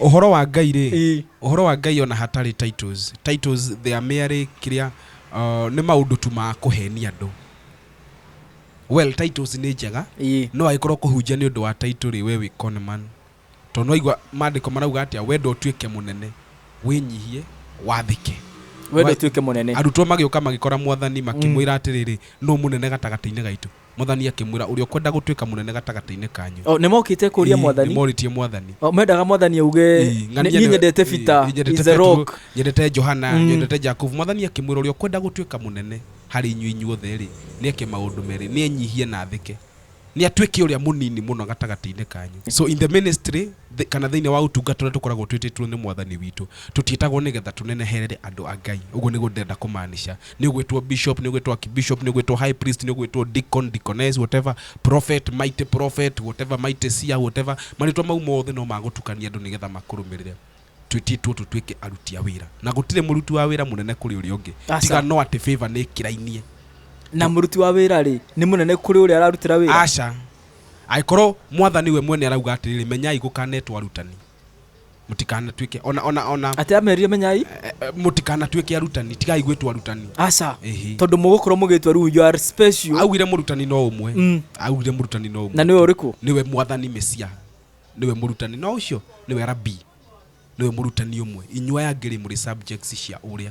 Ũhoro wa Ngai rĩ? Ĩĩ. Ũhoro wa Ngai o na hatarĩ titles, titles they are merely kĩrĩa, nĩ maũndũ tu ma kũhenia andũ. Well, titles nĩ njega, Ĩĩ. no agĩkorwo kũhunjia nĩ ũndũ wa title rĩ, we wĩ con man. Tondũ nĩ waigua maandĩko marauga atĩa, wenda ũtuĩke mũnene, wĩnyihie, wathĩke. Wenda ũtuĩke mũnene. Arutwo magĩũka magĩkora Mwathani, makĩmwĩra atĩrĩrĩ, nũũ mũnene gatagatĩ-inĩ gaitũ? Mwathani akĩmwĩra, Ũrĩa ũkwenda gũtuĩka mũnene gatagatĩ-inĩ kanyu. O, nĩmokĩte kũria Ii, mwathani. Nĩmorĩtie mwathani. O, mendaga mwathani auge, Ii, ng'ania "Niĩ nĩwe- nyendete Ii, Peter, ii, nyendete is the Petero, rock." nyendete Johana, Mm. nyendete Jakubu. Mwathani akĩmwĩra, Ũrĩa ũkwenda gũtuĩka mũnene harĩ inyuĩ inyuothe-rĩ, nĩeke maũndũ merĩ, nĩenyihie na athĩke, nĩatuĩke ũrĩa mũnini mũno gatagatĩ-inĩ kanyu. So in the ministry, thĩ- kana thĩinĩ wa ũtungata ũrĩa tũkoragwo twĩtĩtwo nĩ mwathani witũ, tũtiĩtagwo nĩgetha tũneneherere andũ a Ngai. Ũguo nĩguo ndĩrenda kũmaanisha. nĩ ũgwĩtwo bishop, nĩ ũgwĩtwo archbishop, nĩ ũgwĩtwo high priest, nĩ ũgwĩtwo deacon, deaconess, whatever, prophet, mighty prophet, whatever, mighty seer, whatever. Marĩtwa mau mothe no ma gũtukania andũ nĩgetha makũrũmĩrĩre. Twĩtĩtwo tũtuĩke aruti a wĩra. Na gũtirĩ mũruti wa wĩra mũnene kũrĩ ũrĩa ũngĩ. Aca. Tiga no atĩ favor nĩ ĩkĩrainie. na mũruti wa wĩra rĩ nĩ mũnene kũrĩ ũrĩa ararutĩra wĩra Aca. Angĩkorwo mwathani we mwene arauga atĩrĩrĩ, menyai gũkanetwo arutani. mũtikanatuĩke ona ona ona atä amerire menyai eh, eh, mũtikanatuĩke arutani tigai gwĩtwo arutani aca Ĩhĩ. tondå må gå korwo må gä twa rä u you are special augire mũrutani no ũmwe Mm. augire mũrutani no ũmwe na nä we å rä kå nĩwe mwathani mesia nĩwe mũrutani no ũcio nĩwe rabi nĩwe mũrutani ũmwe inyuaya ngĩrĩ mũrĩ subjects cia ũrĩa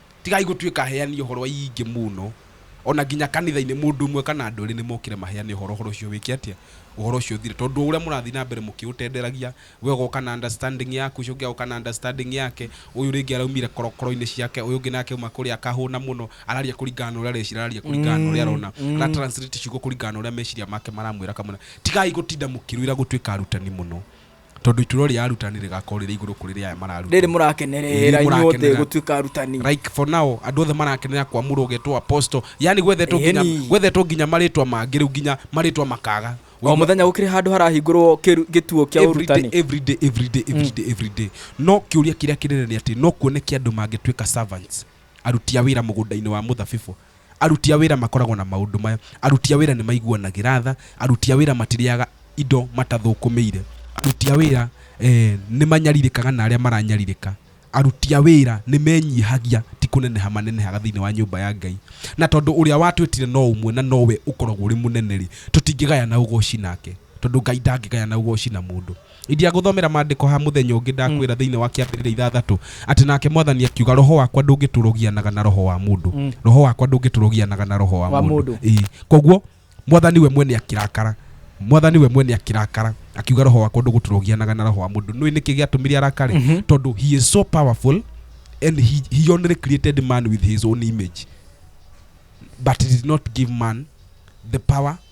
Tigai gũtuĩka aheani ũhoro aingĩ mũno, o na nginya kanitha-inĩ, mũndũ ũmwe kana andũ erĩ nĩ mokĩre maheane ũhoro, ũhoro ũcio wĩke atĩa? Ũhoro ũcio ũthire. Tondũ o ũrĩa mũrathiĩ na mbere mũkĩũtenderagia, we ũgoka na understanding yaku, ũcio ũngĩ agoka na understanding yake, ũyũ rĩngĩ araumire korokoro-inĩ ciake, ũyũ ũngĩ nake auma kũrĩa akahũna mũno, araria kũringana na ũrĩa arecira, araria kũringana na ũrĩa arona, ara translate ciugo kũringana na ũrĩa meciria make maramwĩra kamũira. Tigai gũtinda mũkĩrũĩra gũtuĩka arutani mũno. tondå iturwa rä arutani rä gakorwo rä rä igå rå kå rä rä aya mararuta rĩrĩ mũrakenerera Rĩrĩ inyuothe mũrakenerera. gũtuĩka arutani like for now andå othe marakenera kwamå getwo apostle yani gwethetwo nginya Ĩni. gwethetwo nginya marĩtwa mangĩ rĩu nginya marĩtwa makaga o mũthenya gũkĩrĩ handũ harahingũrwo kĩru- gĩtuo kĩa Every day, ũrutani every day, every day, every day, every day. no kä å ria kä rä a kä nene nä atä no kuoneke andå mangä tuä ka Aruti a wĩra mũgũnda-inĩ wa mũthabibũ. Aruti a wĩra makoragwo na maũndũ maya, Aruti a wĩra nĩ maiguanagĩra tha, Aruti a wĩra matirĩaga indo matathũkũmĩire, Aruti a wĩra nĩ manyarirĩkaga na arĩa maranyarirĩka, Aruti a wĩra nĩ menyihagia, ti kũneneha manenehaga thĩinĩ wa nyũmba ya Ngai. Na tondũ ũrĩa watwĩtire no ũmwe na nowe ũkoragwo ũrĩ mũnene-rĩ, tũtingĩgayana ũgooci nake, tondũ Ngai ndangĩgayana ũgooci na mũndũ. Ingiagũthomera maandĩko ha mũthenya ũngĩ, ndakwĩra thĩinĩ wa Kĩambĩrĩria ithathatũ, atĩ nake Mwathani akiuga, Roho wakwa ndũngĩtũrũgianaga na roho wa mũndũ. Roho wakwa ndũngĩtũrũgianaga na roho wa Wa mũndũ. mũndũ. Ĩĩ. Koguo, Mwathani we mwene akĩrakara. Mwathani we mwene akĩrakara, akiuga, Roho wakwa ndũgũtũrũgianaga na roho wa mũndũ. Nĩũĩ nĩkĩ gĩatũmire arakare? Tondũ he is so powerful and he, he only created man with his own image but he did not give man the power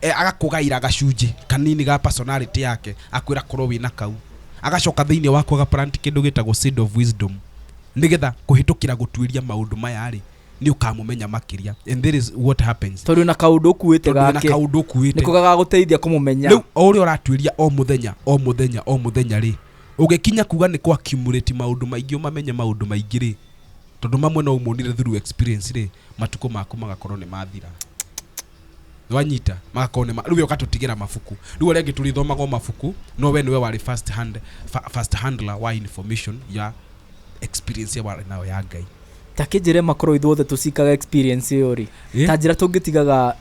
e, agakũgaĩra gacunjĩ kanini ga personality yake akwĩra korwo wĩna kau agacoka thĩinĩ wako agaplant kĩndũ gĩtagwo seed of wisdom nĩgetha kũhĩtũkĩra gũtuĩria maũndũ maya rĩ nĩ ũkamũmenya makĩria and that is what happens tondũ na kaũndũ ũkuĩte tondũ wĩna gake kaũndũ nĩ ũkuĩte ko gagagũteithia kũmũmenya rĩu o ũrĩa ũratuĩria o mũthenya o mũthenya o mũthenya rĩ ũgĩkinya kuga nĩ kwa accumulate maũndũ maingĩ ũmamenye maũndũ maingĩ rĩ tondũ mamwe no ũmonire through experience rĩ matukũ maku magakorwo nĩ mathira Nĩwanyita, magakorwo nĩma, rĩu we ũgatũtigĩra mabuku. Rĩu arĩa angĩ tũrĩthomaga o mabuku, no we nĩwe warĩ first hand, fa- first handler wa information ya experience ĩyo warĩ nayo ya Ngai. ta kĩnjĩre makorwo ithuothe tũcikaga experience ĩyo rĩ Ĩ? ta njĩra tũngĩtigaga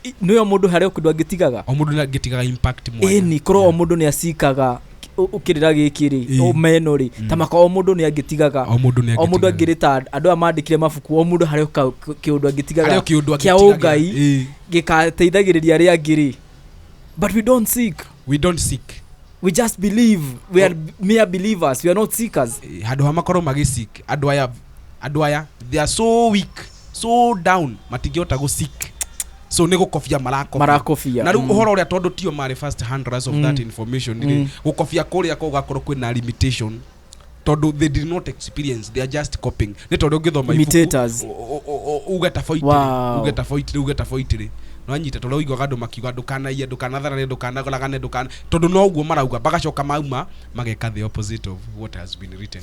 i- nĩyo mũndũ harĩ o kĩndũ angĩtigaga O mũndũ nĩangĩtigaga impact mwanya. ĩni korwo o mũndũ nĩ acikaga kĩrĩra gĩkĩ rĩ Ĩĩ. o meno rĩ Mm. ta maka o mũndũ nĩ angĩtigaga o mũndũ nĩ o mũndũ angĩtigaga. angĩrĩta andũ aya mandĩkire mabuku o mũndũ harĩ ka- k- kĩũndũ Harĩ o angĩtigaga kĩũndũ kĩa angĩtigaga. ũngai Ĩĩ. gĩgateithagĩrĩria arĩa angĩ rĩ but we don't seek we don't seek we just believe we are mere believers we are not seekers Eh, handå ha makorwo magä andå aya andå aya they are so weak so down matingĩhota gũ seek so nĩ gũkobia marakobia Marakobia, na rĩu mm. ũhoro ũrĩa tondũ tio marĩ first handlers of that information rĩ Mm. gũkobia kũrĩa kwa gũgakorwo kwĩna limitation tondũ they did not experience they are just copying nĩ tondũ ũngĩthoma Imitators. ibuku u- u- u- uge taboitĩ Wow. uge taboitĩ uge taboitĩ nonyita tondũ ũiguaga andũ makiuga ndũkanaiye ndũkanatharane ndũkanagoragane ndũkana tondũ no ũguo marauga magacoka mauma mageka the opposite of what has been written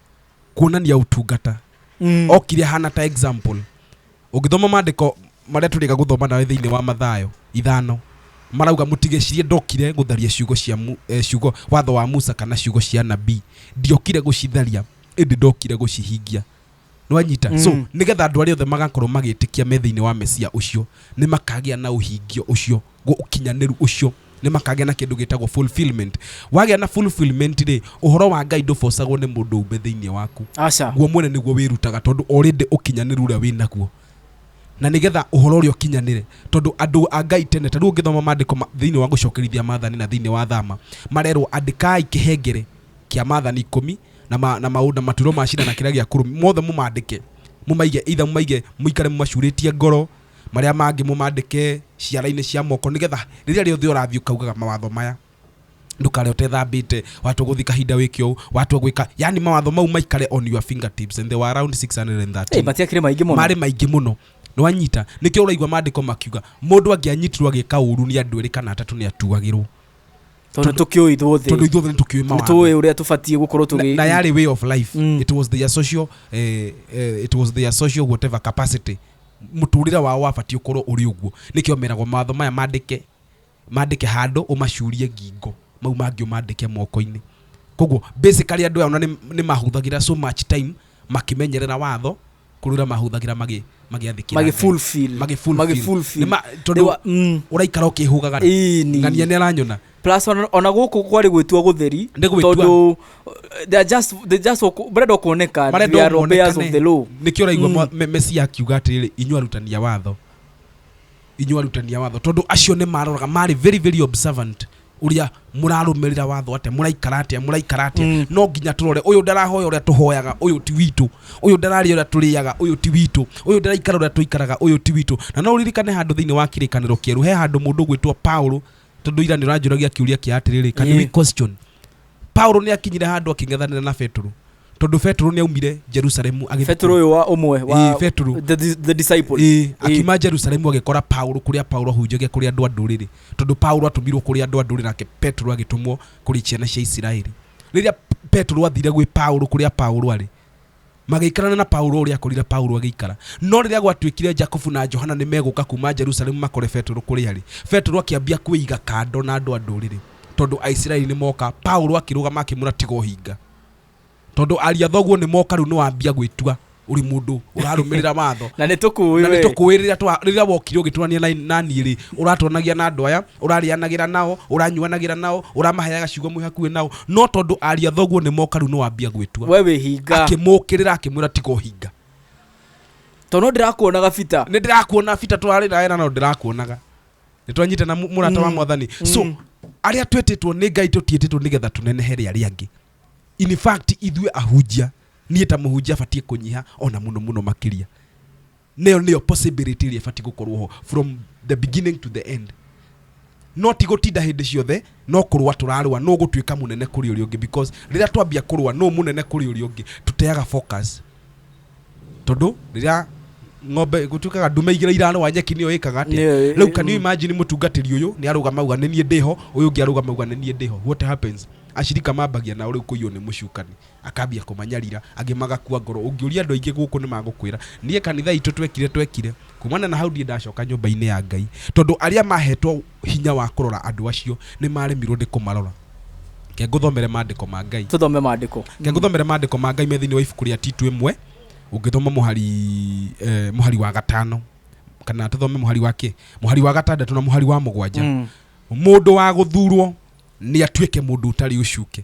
kuonania utungata Mm. okire hana ta example ũngĩthoma maandĩko marĩa tũrĩga gũthoma nawe thĩinĩ wa mathayo ithano marauga mũtigecirie ndokire gũtharia ciugo cia mu, eh, ciugo watho wa musa kana ciugo cia nabii ndiokire gũcitharia ĩndĩ ndokire gũcihingia nĩwanyita mm. so Mm. nĩgetha andũ arĩa othe magakorwo magĩtĩkia me thĩinĩ wa mesia ũcio nĩ makagĩa na ũhingio ũcio gu- ũkinyanĩru ũcio nĩ makagĩa na kĩndũ gĩtagwo fulfillment wagĩa na fulfillment rĩ ũhoro wa ngai ndũbocagwo nĩ mũndũ ũmbe thĩinĩ waku aca guo mwene nĩguo wĩrutaga tondũ orĩndĩ ũkinyanĩru ũrĩa wĩ naguo na nĩgetha ũhoro ũrĩa ũkinyanĩre tondũ andũ a ngai tene ta rĩu ũngĩthoma maandĩko ma- thĩinĩ wa gũcokerithia maathani na thĩinĩ wa thama marerwo andĩkai kĩhengere kĩa maathani ikũmi na, ma, na maũndũ na maturo ma cira na kĩrĩa gĩa kũrũmi mothe mũmaandĩke mũmaige itha mũmaige mũikare mũmacurĩtie ngoro marĩa mangĩ mũmandĩke ciara-inĩ cia moko nĩgetha rĩrĩa rĩothe ũrathiĩ ũkaugaga mawatho maya ndũkare ũtethambĩte watwa gũthiĩ kahinda wĩke ũũ watwa gwĩka yani mawatho mau maikare on your fingertips and they were around 613 Hey, matiakire maingĩ mũno marĩ maingĩ mũno nĩwanyita nĩkĩo ũraigua mandĩko makiuga mũndũ angĩanyitirwo agĩka ũru nĩ andũ erĩ kana atatũ nĩ atuagĩrwo tondũ tũkĩũĩ tondũ ithuothe ithuothe nĩ tũkĩũĩ nĩ mawatho tũĩ ũrĩa tũbatiĩ gũkorwo na, tũgĩ na yarĩ way of life Mm. it was their social eh, eh, it was their social whatever capacity mũtũrĩre wao wabatiĩ ũkorwo ũrĩ ũguo nĩkĩo meragwo mawatho maya mandĩke mandĩke handũ ũmacurie ngingo mau mangĩ ũmandĩke moko-inĩ koguo basically andũ aya ona nĩ nĩ mahũthagĩra so much time makĩmenyerera watho kũrũra mahũthagĩra magĩ magĩathĩkĩra Magĩ Ngai. fulfill. Magĩ fulfill. Magĩ fulfill. Nĩ ma- They tondũ were- mm. ũraikara ũkĩhũgaga Ĩĩ, nĩ. ng'ania nĩ aranyona plus ona ona gũkũ kwarĩ gwĩtua gũtheri Nĩ gwĩtua. tondũ they are just they just wako- marenda kuoneka they are obeyers of the law nĩkĩo ũraigua Mm. mm. mesia akiuga atĩrĩrĩ inyuĩ arutani a watho inyuĩ arutani a watho tondũ acio nĩ maroraga marĩ very very observant ũrĩa mũrarũmĩrĩra watho atĩa mũraikara atĩa mũraikara atĩa Mm. no nginya tũrore ũyũ ndarahoya ũrĩa tũhoyaga ũyũ ti witũ ũyũ ndararĩa ũrĩa tũrĩaga ũyũ ti witũ ũyũ ndaraikara ũrĩa tũikaraga ũyũ ti witũ na no ũririkane handũ thĩinĩ wa kĩrĩkanĩro kĩerũ he handũ mũndũ gwĩtwo paũlũ tondå ira nä å ranjå ragia kä å ria kä atirä rä paulo nä akinyire handå akäng'ethanä ra na betå tondå betå nä aumire jerusalemu betå yå wa ũmwe wa betå the, the disciple ĩĩ akiuma jerusalemu agĩkora paulo kũrĩa paulo ahunjagia kũrĩ andũ a ndũrĩrĩ tondũ paulo atũmirwo kũrĩ andũ a ndũrĩrĩ nake petro agĩtũmwo kũrĩ ciana cia isiraeli rĩrĩa petro athire gwĩ paulo kũrĩa paulo arĩ Magĩikarana na Paulo ũrĩa akorire Paulo agĩikara. No rĩrĩa gwatuĩkire Jakubu na Johana nĩ megũka kuuma Jerusalemu makore Petero kũrĩ arĩ, Petero akĩambia kwĩiga kando na andũ a ndũrĩrĩ, tondũ Aisiraeli nĩ moka, Paulo akĩrũgama akĩmwĩra, Tiga ũhinga. Tondũ ariũ a thoguo nĩ moka rĩu nĩ wambia gwĩtua ũrĩ mũndũ ũrarũmĩrĩra watho. na nĩ tũkũũĩ na nĩ we. tũkũũĩ rĩrĩa twa- rĩrĩa wokire ũgĩtũrania na, na niĩ rĩ ũratũranagia na andũ aya ũrarĩanagĩra nao ũranyuanagĩra nao ũramaheaga ciugo mwĩ hakuhĩ nao no tondũ aria thoguo nĩ moka rĩu nĩwambia gwĩtua we wĩ hinga akĩmũkĩrĩra akĩmwĩra tiga ũhinga tondũ ndĩrakuonaga bita nĩ ndĩrakuona bita twarĩ nawe na no ndĩrakuonaga nĩ twanyite na mũ- mũrata wa Mm. mwathani so Mm. arĩa twĩtĩtwo nĩ ngai tũtiĩtĩtwo nĩgetha tũnenehe rĩa arĩa angĩ in fact ithuĩ ahunjia niĩ ta mũhunjia batiĩ kũnyiha ona mũno mũno makĩria Nayo nĩyo possibility ĩrĩa ĩbatiĩ gũkorwo ho from the beginning to the end. No ti gũtinda hĩndĩ ciothe, no kũrũa tũrarũa, no gũtuĩka mũnene kũrĩ ũrĩa ũngĩ because rĩrĩa twambia kũrũa no mũnene kũrĩ ũrĩa ũngĩ, tũteaga focus. Tondũ rĩrĩa ng'ombe gũtuĩkaga ndume igĩrĩ irarũa nyeki nĩyo ĩkaga atĩa? Nĩyo ĩ- Rĩu can you imagine mũtungatĩri ũyũ nĩ arũgama uga nĩ niĩ ndĩho, ũyũ ũngĩ arũgama uga nĩ niĩ ndĩho. What happens? Ashirika mambagia nao rĩu kũiywo nĩ mũcukani. Akambia kũmanyarira, angĩ magakua ngoro. Ũngĩũria andũ aingĩ gũkũ nĩ magũkwĩra, Niĩ kanitha itũ twekire twekire. Kuumana na hau ndirĩ ndacoka nyũmba-inĩ ya Ngai. Tondũ arĩa maahetwo hinya wa kũrora andũ acio nĩ maaremirũo nĩ kũmarora. Reke ngũthomere maandĩko ma Ngai. Tũthome maandĩko. Reke ngũthomere maandĩko ma Ngai me thĩinĩ wa ibuku rĩa Titu ĩmwe, ũngĩthoma mũhari, eh, mũhari wa gatano, kana tũthome mũhari wa kĩ? Mũhari wa gatandatũ na mũhari wa mũgwanja. Mũndũ wa gũthuurũo nĩ atuĩke mũndũ ũtarĩ ũcuke.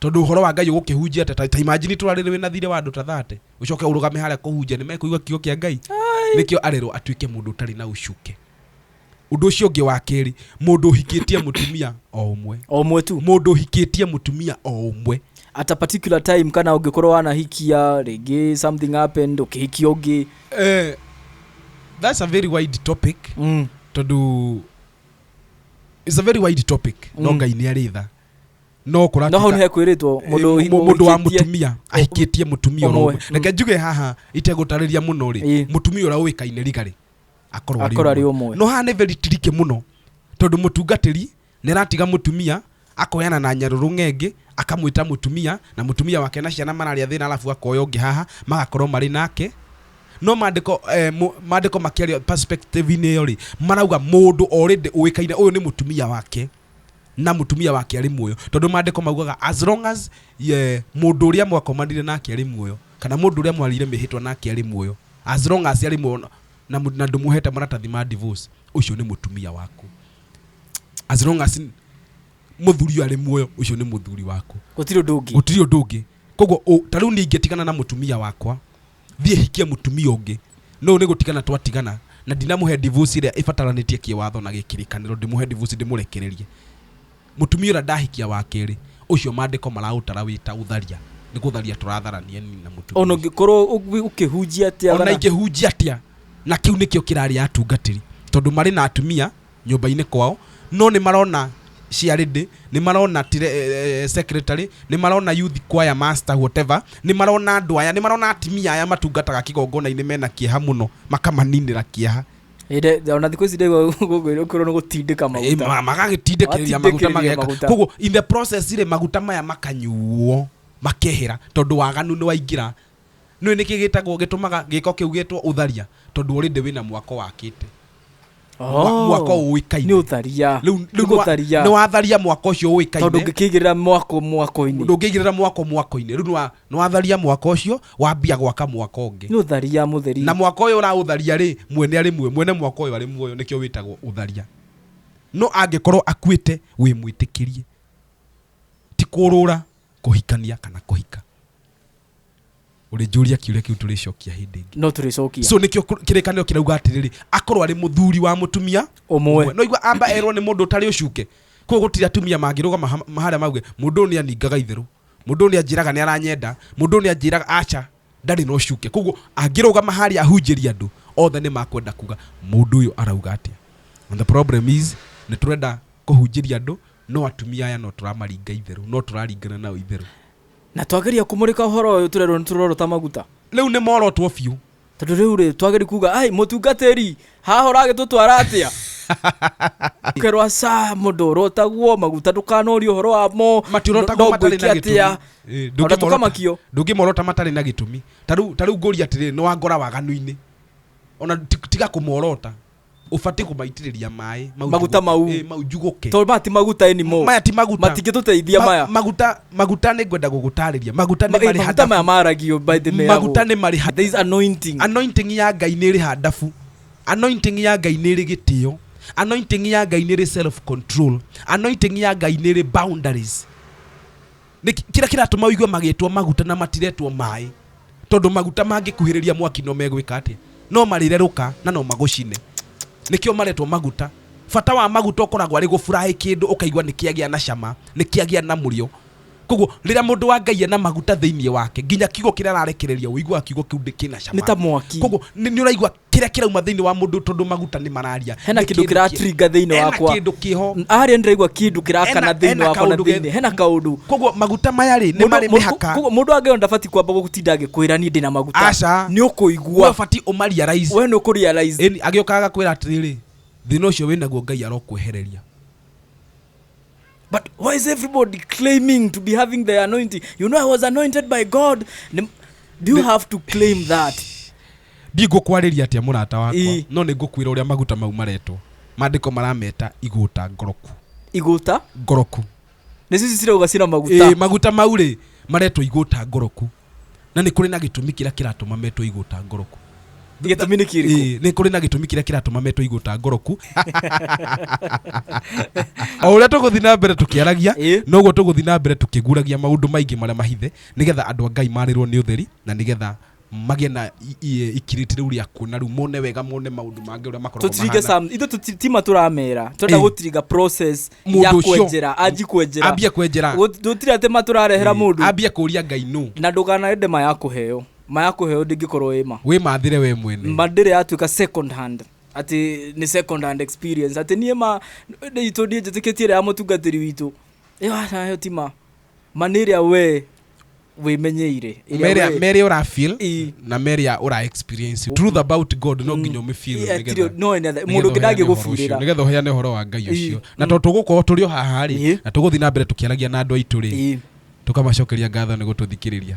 Tondũ ũhoro wa Ngai ũgũkĩhunjia atĩa? Ta, ta imagine tũrarĩrĩ wĩna thirĩ wa andũ ta 30, ũcoke ũrũgame harĩa kũhunjia, nĩmekũigua kiugo kĩa Ngai? Ai. Nĩkĩo arerwo atuĩke mũndũ ũtarĩ na ũcuke. Ũndũ ũcio ũngĩ wa kerĩ, mũndũ ũhikĩtie mũtumia o ũmwe. O ũmwe tu. Mũndũ ũhikĩtie mũtumia o ũmwe. At a particular time kana ũngĩkorwo wanahikia rĩngĩ something happened ũkĩhikia ũngĩ. Eh, that's a very wide topic Mm. tondũ it's a very wide topic no Mm. Ngai nĩ arĩ tha no no hau kũratuĩka nĩhe kwĩrĩtwo mũndũ Ĩ, mu- mũndũ wa ũhikĩtie- mũtumia ahikĩtie mũtumia ũmwe. ũrĩa ũmwe. reke njuge haha itegũtarĩria mũno rĩ Ĩ. mũtumia ũrĩa ũĩkaine rigarĩ akorwo Akorwo arĩ arĩ ũmwe ũmwe. no haha nĩ very tricky mũno tondũ mũtungatĩri nĩ aratiga mũtumia akoyana na nyarũrũ ng'engĩ akamwĩta mũtumia na mũtumia wake na ciana mararĩa thĩna alafu akoya ũngĩ haha magakorwo marĩ nake no mandĩko eh, mu- mandĩko makĩaria perspective-inĩ ĩyo rĩ marauga mũndũ already ũĩkaine ũyũ nĩ mũtumia wake na mutumia wake arĩ muoyo tondũ maandĩko maugaga as long as ye, mũndũ ũrĩa mwakomanire nake arĩ muoyo kana mũndũ ũrĩa mwarĩire mĩhĩtwa nake arĩ muoyo as long as arĩ muoyo na, mu- na ndũmũhete maratathi ma divorce ũcio nĩ mũtumia waku as long as mũthuri ũyũ arĩ muoyo ũcio nĩ mũthuri waku gũtirĩ ũndũ ũngĩ gũtirĩ ũndũ ũngĩ koguo ũ- ta rĩu niĩ ingĩtigana na mũtumia wakwa thiĩ hikie mũtumia ũngĩ no nĩ gũtigana twatigana na ndinamũhe divorce ĩrĩa ĩbataranĩtie kĩwatho na gĩkĩrĩkanĩro ndĩmũhe divorce ndĩmũrekererie mũtumia ũrĩa ndahikia wa kerĩ ũcio mandĩko maraũtara wĩta ũtharia nĩ gũtharia tũratharania nini na mũtumia ona ũngĩkorwo ũgĩ- ũkĩhunjia atĩa ona bana? ingĩhunjia atĩa na kĩu nĩkĩo kĩrarĩ atungatĩri tondũ marĩ na atumia nyũmba-inĩ kwao, no nĩ marona ciarĩndĩ, nĩ marona secretary, nĩ marona youth choir master whatever, nĩ marona andũ aya, nĩ marona atimia aya matungataga kĩgongona-inĩ mena kĩeha mũno, makamaninĩra kĩeha. Ĩndĩ, ona thikũ ici ndĩgua gũkũ kwĩrwo nĩ gũtindĩka Eh, maguta ma- magagĩtindĩkĩrĩria maguta Matindĩkĩrĩria mageka maguta. koguo in the process rĩ maguta maya makanyuo makehera tondũ waganu nĩ waingĩra Nĩũĩ nĩkĩ gĩtagwo gĩtũmaga gĩko kĩu gĩtwo ũtharia? Tondũ already wĩna mwako wakĩte. Mwa- mwako Oh, ũĩkaine. nĩ ũtharia Rĩu nĩ nĩ nĩwa- gũtharia nĩwatharia mwako ũcio tondũ ũĩkaine. ngĩkĩigĩrĩra mwako mwako-inĩ Ndũngĩigĩrĩra mwako mwako-inĩ. Rĩu nĩwa- nĩwatharia mwako ũcio wambia gwaka mwako ũngĩ. nĩ ũtharia mũtheri Na mwako ũyũ ũraũtharia rĩ, mwene arĩ muoyo, mwene mwako ũyũ arĩ muoyo nĩkĩo wĩtagwo ũtharia. No angĩkorwo akuĩte wĩ mwĩtĩkĩrie. Ti kũrũra, kũhikania kana kũhika. ũrĩnjũria kiũria kĩu tũrĩcokia hĩndĩ ĩngĩ no tũrĩcokia so nĩkĩo kũ- kĩrĩkanĩro kirauga atĩrĩrĩ akorwo arĩ mũthuri wa mũtumia Ũmwe. no igua amba erwo nĩ mũndũ ũtarĩ ũcuke koguo gũtirĩ atumia mangĩrũgama ha- harĩa mauge mũndũ ũyũ nĩ aningaga itherũ mũndũ ũyũ nĩ anjĩraga nĩ aranyenda mũndũ ũyũ nĩ anjĩraga aca ndarĩ na ũcuke koguo angĩrũgama harĩa ahunjĩria andũ othe nĩ makwenda kuga mũndũ ũyũ arauga atĩa and the problem is nĩ tũrenda kũhunjĩria andũ no atumia aya no tũramaringa itherũ no tũraringana nao itherũ Na twageria kũmũrĩka ũhoro ũyũ tũrerwo nĩ tũroro ta maguta. Rĩu nĩ morotwo biũ. Tondũ rĩu rĩ twageri kuga ai mũtungatĩri haha ũragĩtũtwara atĩa? Kerwo aca mũndũ ũrotagwo maguta ndũkanorie ũhoro wamo Matirotagwo matarĩ na gĩtũmi. Ĩ, Ona ndũngĩmorota- tũkamakio. ndũngĩmorota matarĩ na gĩtũmi ta rĩu ta rĩu ngũria atĩrĩrĩ nĩ wangora waganu-inĩ ona ti- tiga kũmorota ubatiĩ kũmaitĩrĩria maĩ mau Maguta njugũke. mau. Ĩĩ, mau njugũke tondå maya ti maguta anymore. maya ti maguta matingä tå teithia Ma- maya maguta maguta nĩ ngwenda gũgũtarĩria maguta Ma- nĩ eh, marĩ maguta maya hadabu maragio by the way, maguta yagwo. nĩ marĩ hadabu There is anointing. anointing ya ngai nä rä handabu anointing ya ngai nä rä gä tä o anointing ya ngai nä rä self control anointing ya ngai nä rä boundaries nĩ kĩ- kĩrĩa kĩratũma ũigue magĩtwo maguta na matiretwo maĩ tondũ maguta mangĩkuhĩrĩria mwaki no megwĩka atĩa no marĩrerũka na no magũcine nĩkĩo maretwo maguta bata wa maguta ũkoragwo arĩ gũburaĩ kĩndũ ũkaigua nĩ kĩagĩa na cama nĩ kĩagĩa na mũrĩo koguo rĩrĩa mũndũ wa ngai ena maguta thĩinĩ wake nginya kiugo kĩrĩa ararekereria ũiguaga kiugo kĩu ndĩ- kĩna cama Nĩ ta mwaki. koguo nĩ nĩ ũraigua kĩrĩa kĩrauma thĩinĩ wa mũndũ tondũ maguta nĩ mararia hena Nĩ kĩndũ kĩndũ kĩra kĩ- trigger thĩinĩ hena wakwa kĩndũ kĩho Mm, harĩa ndĩraigua kĩndũ kĩrakana Hena- thĩinĩ hena wakwa na kaũndũ ge- thĩinĩ hena kaũndũ koguo maguta maya rĩ nĩ Mũndũ- marĩ mũndũ- mĩhaka koguo mũndũ angĩona ndabatiĩ kwamba gũtinda agĩkwĩra niĩ ndĩna maguta Aca. nĩ we ũkũigua ũbatiĩ ũmaria raici we nĩ ũkũrealize Ĩni, agĩũkaga kwĩra atĩrĩrĩ thĩna ũcio wĩnaguo ngai arokwehereria But why is everybody claiming to be having the anointing? You know, I was anointed by God. Nim- Do you have to claim that? ndigũkwarĩria atĩa mũrata wakwa Ĩ. no nĩ ngũkwĩra ũrĩa maguta mau maretwo maandĩko marameta igũta ngoroku Igota? ngoroku Nĩ sisi sira ugacina maguta. Ĩ, maguta mau rĩ maretwo igũta ngoroku na nä kå rä na gä tå mi kä rä a kä ratå ma metwo igå ta ngoroku gĩtũmi nĩ kĩrĩkũ Ĩĩ, nĩ kũrĩ na gĩtũmi kĩrĩa kĩratũma metwo igũ ta ngoroku o ũrĩa tũgũthiĩ na mbere tũkĩaragia Ĩĩ. noguo tũgũthiĩ na mbere tũkĩguragia maũndũ maingĩ marĩa mahithe nĩgetha andũ a ngai marĩrwo nĩ ũtheri na nĩgetha magĩe na i- i- ikirĩti rĩu rĩa kuona rĩu mone wega mone maũndũ mangĩ ũrĩa makoragwo tũtiringe mahana. sam ithu tũti- tima tũramera twenda Ĩĩ. gũtiringa process ya Mũndũ ũcio. kwenjera anji kwenjera ambie kwenjera Gũt- gũtirĩ atĩ matũrarehera mũndũ ambie kũria ngai nũ na ndũkanarende maya kũheo maya kũheo ndĩngĩkorwo ĩ ma wĩ mathĩre we mwene ma ndĩrĩ yatuĩka second hand atĩ nĩ second hand experience atĩ niĩ ma itũ ndiĩ njĩtĩkĩtie ĩrĩa ya mũtungatĩri witũ ĩyo aca ĩyo ti ma mani ĩrĩa we wĩmenyeire ĩrĩa Mĩrĩa- we- mĩrĩa ũra feel Ii. na mĩrĩa ũra experience truth about god no nginya ũmĩ feel Yeah, nĩgetha- tiri- no, nĩgetha- nĩgetha mũndũ ũheane ũngĩ ũhoro ndangĩgũbirĩra. ũcio, nĩgetha ũheane ũhoro wa ngai ũcio na tondũ tũgũkorwo tũrĩ o haha rĩ Ii. na tũgũthiĩ na mbere tũkĩaragia na andũ aitũ rĩ Ii. tũkamacokeria ngatho nĩ gũtũthikĩrĩria